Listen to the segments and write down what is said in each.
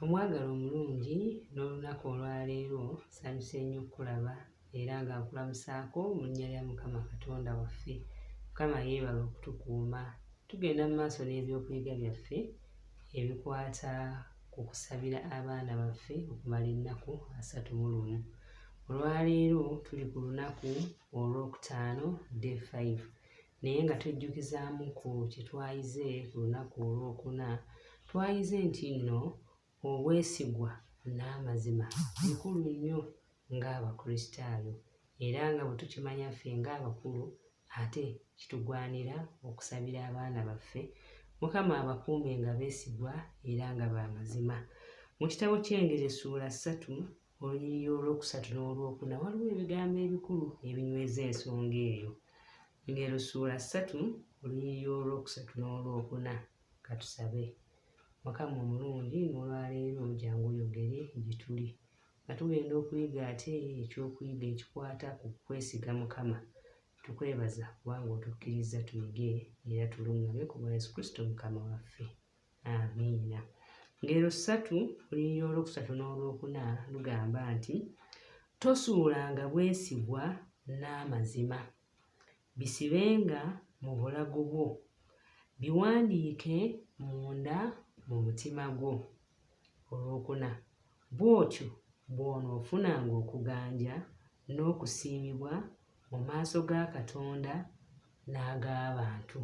Omwagala omulungi n'olunaku olwaleero sanyuse nnyo okukulaba era nga nkulamusaako mu nnya lya Mukama Katonda waffe. Mukama yeebale okutukuuma. Tugenda mu maaso n'ebyokuyiga byaffe ebikwata ku kusabira abaana baffe okumala ennaku asatu mu lumu. Olwaleero tuli ku lunaku olwokutaano day 5. Naye nga tujjukizaamu ku kye twayize ku lunaku olwokuna, twayize nti nno obwesigwa n'amazima bikulu nnyo ng'Abakristaayo era nga bwe tukimanya ffe ng'abakulu ate kitugwanira okusabira abaana baffe Mukama abakuume nga beesigwa era nga ba mazima. Mu kitabo ky'Engeri essuula ssatu olunyiriri olwokusatu n'olwokuna waliwo ebigambo ebikulu ebinyweza ensonga eyo ngero suula ssatu olunyiriri olwokusatu n'olwokuna katusabe mukama omulungi nolwaleero jangu oyogere gyetuli nga tugenda okuyiga ate ekyokuyiga ekikwata ku kwesiga mukama tukwebaza kubanga otukkiriza tuyige era tuluŋŋame ku bwa yesu kristo mukama waffe amiina ngero ssatu olunyiri olwokusatu n'olwokuna lugamba nti tosuulanga bwesigwa n'amazima bisibenga mu bulago bwo biwandiike munda mu mutima gwo olwokuna bw'otyo bw'onoofunanga okuganja n'okusiimibwa mu maaso ga katonda n'ag'abantu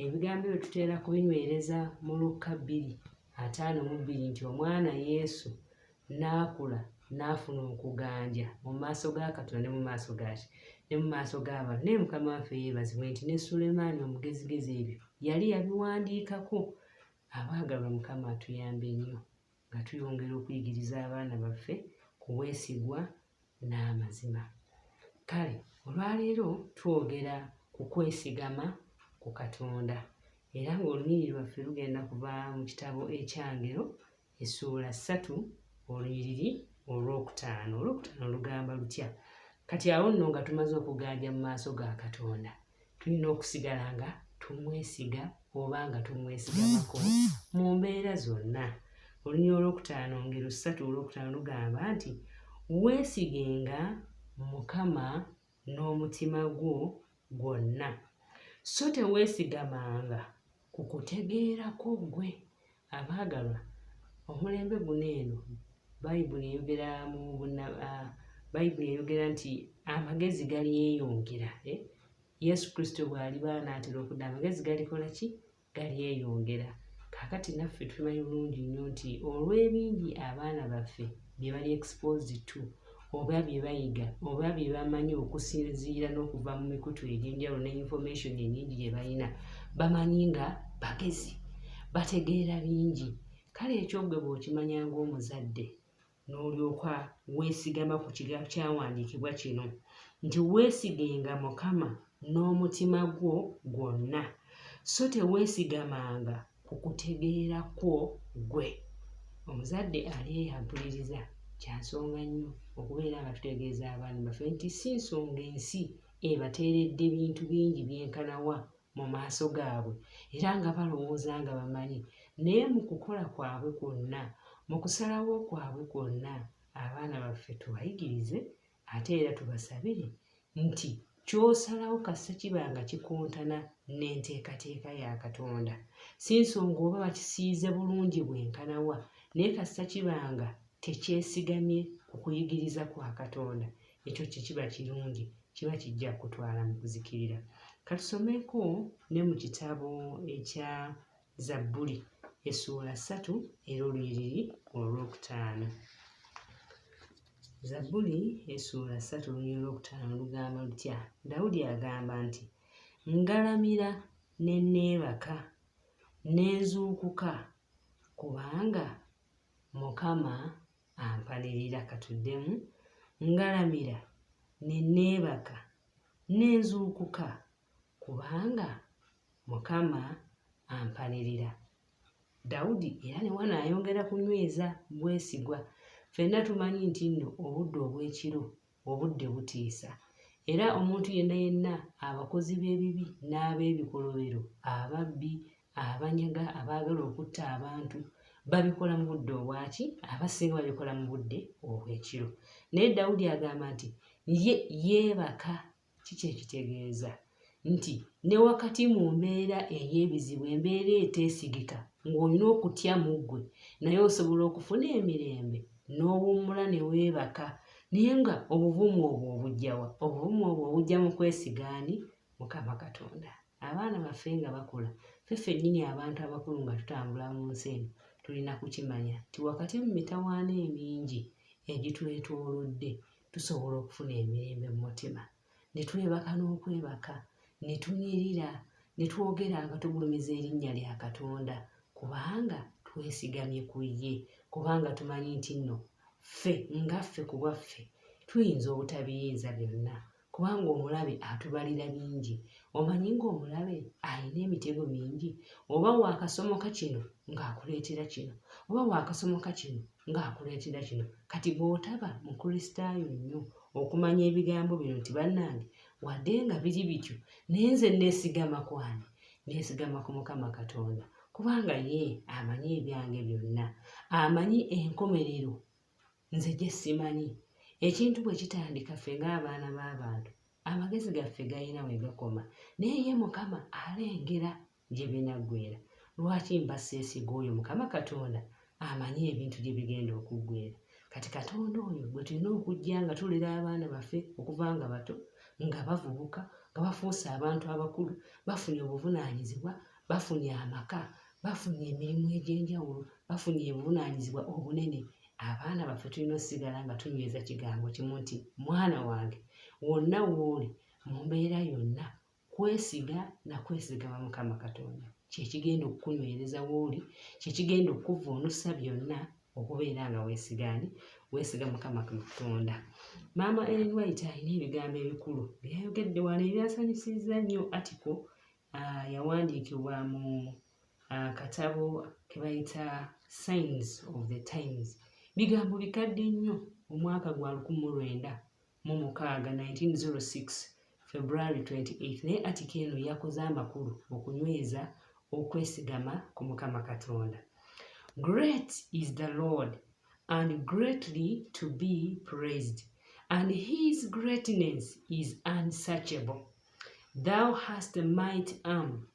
Ebigambo ebyo tutera kubinywereza mu Lukka bbiri ataano mu bbiri nti omwana Yesu n'akula n'afuna okuganja mu maaso ga Katonda ne mu maaso gaki ne mu maaso g'abantu naye mukama waffe yeebazibwe nti ne Sulemaani omugezigezi ebyo yali yabiwandiikako abaagalwa mukama atuyambe nnyo nga tuyongera okuyigiriza abaana baffe ku bwesigwa n'amazima. Kale olwaleero twogera ku kwesigama ku Katonda era ng'olunyiriri lwaffe lugenda kuva mu kitabo ekyangero essuula ssatu olunyiriri olwokutaano olwokutaano lugamba lutya kati awo nno nga tumaze okuganja mu maaso ga katonda tulina okusigala nga tumwesiga oba nga tumwesigamako mu mbeera zonna oluny olwokutaano ngero ssatu olwokutaano lugamba nti weesigenga mukama n'omutima gwo gwonna so teweesigamanga Ku kutegeera kwo ggwe, abaagalwa, omulembe guno eno Bayibuli eyogera mu bunna, a, Bayibuli eyogera nti amagezi galyeyongera, e, Yesu Kristo bw'aliba anaatera okudda, amagezi galikola ki? Galyeyongera. Kaakati naffe tumanyi bulungi nnyo nti olw'ebingi abaana baffe bye bali exposed to oba bye bayiga oba bye bamanyi okusinziira n'okuva mu mikutu egy'enjawulo ne information enyingi gye balina bamanyi nga bagezi bategeera bingi kale ekyo gwe bw'okimanya ng'omuzadde n'olyoka weesigama ku kiga kyawandiikibwa kino nti weesigenga mukama n'omutima gwo gwonna so teweesigamanga ku kutegeera kwo ggwe omuzadde alyeyambuliriza kya nsonga nnyo okubeera nga tutegeeza abaana baffe nti si nsonga ensi ebateeredde bintu bingi byenkanawa mu maaso gaabwe era nga balowooza nga bamanyi naye mu kukola kwabwe kwonna mu kusalawo kwabwe kwonna abaana baffe tubayigirize ate era tubasabe nti ky'osalawo kasita kiba nga kikontana n'enteekateeka ya katonda si nsonga oba bakisiize bulungi bwenkanawa naye kasita kiba nga tekyesigamye ku kuyigiriza kwa katonda ekyo kyekiba kirungi kiba kijja kutwala mu kuzikirira katusomeko ne mu kitabo ekya Zabbuli essuula ssatu era olunyiriri olwokutaano. Zabbuli essuula ssatu olunyiriri olwokutaano lugamba lutya? Dawudi agamba nti, Ngalamira ne neebaka, ne nzuukuka, kubanga Mukama ampalirira. Katuddemu, ngalamira ne neebaka, ne nzuukuka. kubanga Mukama ampanirira. Dawudi era ne wano ayongera kunyweza bwesigwa. Ffenna tumanyi nti nno obudde obw'ekiro obudde butiisa era omuntu yenna yenna abakozi b'ebibi n'ab'ebikolobero ababbi abanyaga abaagala okutta abantu babikola mu budde obwaki abasinga babikola mu budde obw'ekiro naye dawudi agamba nti ye yeebaka kiki ekitegeeza nti ne wakati mu mbeera ey'ebizibu embeera eteesigika ng'olina okutya mu ggwe naye osobola okufuna emirembe n'owummula ne weebaka naye nga obuvumu obwo obujjawa obuvumu obwo obujja mu kwesigaani mukama katonda abaana baffe nga bakula fe fennyini abantu abakulu nga tutambula mu nsi eno tulina kukimanya nti wakati mu mitawaana emingi egitwetoolodde tusobola okufuna emirembe mu mutima ne twebaka n'okwebaka ne tunyirira ne twogera nga tugulumiza erinnya lya katonda kubanga twesigamye ku ye kubanga tumanyi nti nno ffe nga ffe ku bwaffe tuyinza obutabiyinza byonna kubanga omulabe atubalira bingi omanyi ng'omulabe alina emitego mingi oba waakasomoka kino ng'akuleetera kino oba waakasomoka kino ng'akola ekida kino kati bw'otaba mukristaayo nnyo okumanya ebigambo bino nti bannange wadde nga biri bityo naye nze nneesigama ku ani nneesigama ku mukama katonda kubanga ye amanyi ebyange byonna amanyi enkomerero nze gye simanyi ekintu bwe kitandika ffe ng'abaana b'abantu amagezi gaffe galina we gakoma naye ye mukama alengera gye binaggwera lwaki mba seesiga oyo mukama katonda amanyi ebintu gye bigenda okuggwera kati katonda oyo gwe tulina okujja nga tulera abaana baffe okuva nga bato nga bavubuka nga bafuuse abantu abakulu bafunye obuvunaanyizibwa bafunye amaka bafunye emirimu egy'enjawulo bafunye obuvunaanyizibwa obunene abaana baffe tulina osigala nga tunyweza kigambo kimu nti mwana wange wonna wooli mu mbeera yonna kwesiga na kwesigama mukama katonda kyekigenda okukunywereza wooli kyekigenda okukuvvuunusa byonna okubeera nga wesigaani wesiga mukama katonda maama ellen white alina ebigambo ebikulu byeyayogedde wano ebyasanyusizza nnyo atiko ah, yawandiikibwa mu ah, katabo kebayita signs of the times bigambo bikadde nnyo omwaka gwa lukumi lwenda mu mukaaga 1906 February 28 naye atika eno yakoze amakulu okunyweza okwesigama ku mukama katonda great is the lord and greatly to be praised and his greatness is unsearchable thou hast a might arm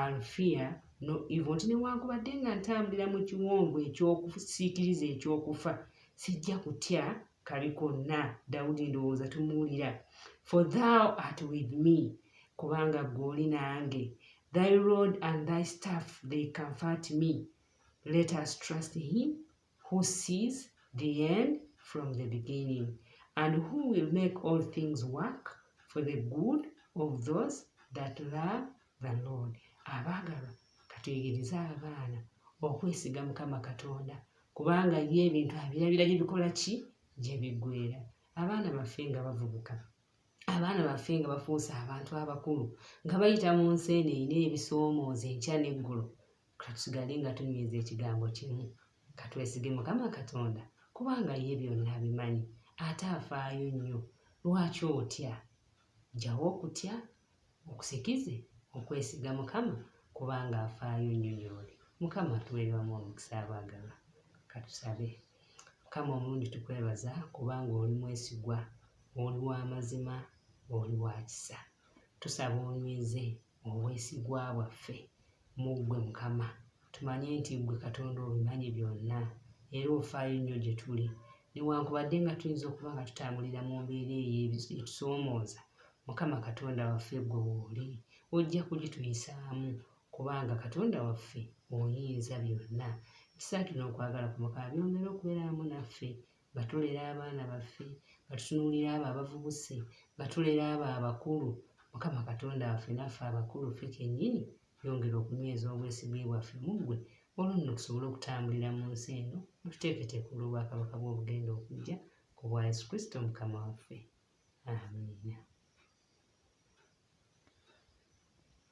Alfear no evil nti newankubadde nga ntambulira mu kiwonvu ekyokusiikiriza ekyokufa sijja kutya kabi konna dawudi ndowooza tumuwulira for thou art with me kubanga ggwe oli nange thy road and thy staff they comfort me let us trust him who sees the end from the beginning and who will make all things work for the good of those that love the lord abaagalwa katuyigirize abaana okwesiga mukama katonda kubanga ye ebintu abirabira gye bikola ki gye biggwera abaana baffe nga bavubuka abaana baffe nga bafuuse abantu abakulu nga bayita mu nsi eno erina ebisoomooza enkya n'eggulo Katusigale nga tunyweza ekigambo kimu, katwesige Mukama Katonda kubanga ye byonna abimanyi ate afaayo nnyo. Lwaki otya? Jjawo okutya, okusikize okwesiga Mukama kubanga afaayo nnyo gy'oli. Mukama tuweerewamu omukisa abaagalwa. Katusabe. Mukama omulungi tukwebaza kubanga oli mwesigwa, oli wa mazima, oli wa kisa. Tusaba onyweze Obwesigwa bwaffe mu ggwe Mukama, tumanye nti ggwe Katonda obimanyi byonna era ofaayo nnyo gye tuli. Newankubadde nga tuyinza okuba nga tutambulira mu mbeera eyo etusoomooza, Mukama Katonda waffe ggwe wooli, ojja kugituyisaamu kubanga Katonda waffe oyinza byonna. Ekisaakira okwagala kwo Mukama byongere okubeera wamu naffe. nga tulera abaana baffe, nga tutunuulira abo abavubuse, nga tulera abo abakulu, Mukama Katonda waffe naffe abakulu ffe kennyini yongera okunyweza obwesigwa bwaffe mu ggwe olwo nno tusobole okutambulira mu nsi eno mututeeketeeka olw'obwakabaka bw'obugenda okujja ku bwa Yesu Kristo Mukama waffe. Amiina.